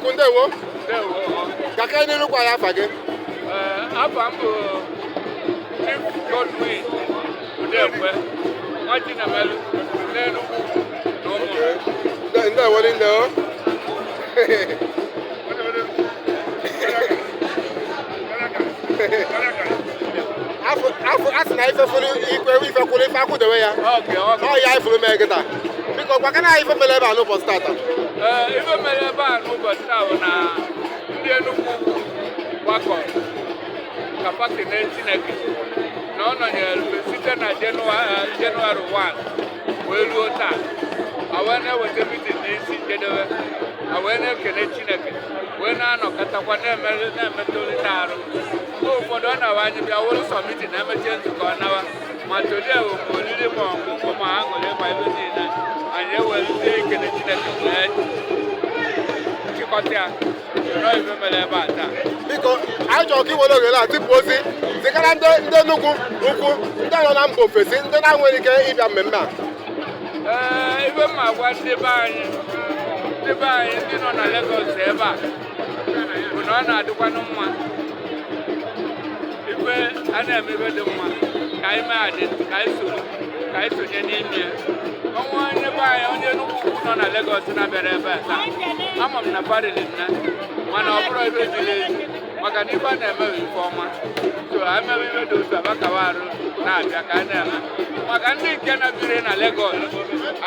ukwu ndewo ka gaa n'iru gwa anyị afa gị afa m bụ Chief Godwin Udekwe Nwachinemelu n'Enugwu na ụmụ ndewo nne o a sị na ife kwụrụ ife akwụdewe ya ọ ya ifuru mee kịta biko gwakene anyị ife mere ebe a n'ụbọchị tata ife mere ebe a n'ụbọchị taa bụ na ndị Enugwu Ukwu gbakọ ka fa kene Chineke na ọ nọnyere site na Jenụwarị 1 wee ruo taa a wee na-eweta mitin n'isi njedebe a wee na-ekele chineke wee na-anọkọtakwa na-emetụrịta arụ mgbe ụfọdụ ọ na-awụ anyị bịa wụrụ sọ mitin emechie nzukọ nawa ma today bụ ma oriri ma ọṅụṅụ ma aṅụrị ma ife niile anyị ewere ikele chineke wee chịkọta ya biko anyị chọrọ ka i were ohere a tipụ ozi zigara ndị ndị Enugwu Ukwu ndị nọ na mba ofesi ndị na-enweghị ike ịbịa mmemme a ee ife m ma-agwa ndị be anyị ndị be anyị ndị nọ na Lagos ebe a bụ na ọ na-adịkwanụ mma ife a na-eme ife dị mma ka anyị mee adị ka anyị soro ka anyị sonye n'ime ya o nwee onye be anyị onye Enugwu Ukwu nọ na Lagos na-abịarọ ebe a taa ama m na fa riri nne mana ọ bụrọ ife ziri ezi maka na ife a na-eme bụ ife ọma so e mewe ife dị otu a fa kawa arụ na-abịa ka a na-eme maka ndị nke na-ebirọ na Lagos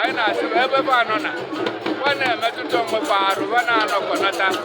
anyị na-asị fa ebe fa nọ na fa na-emetụta onwe fa arụ fa na-anọkọnata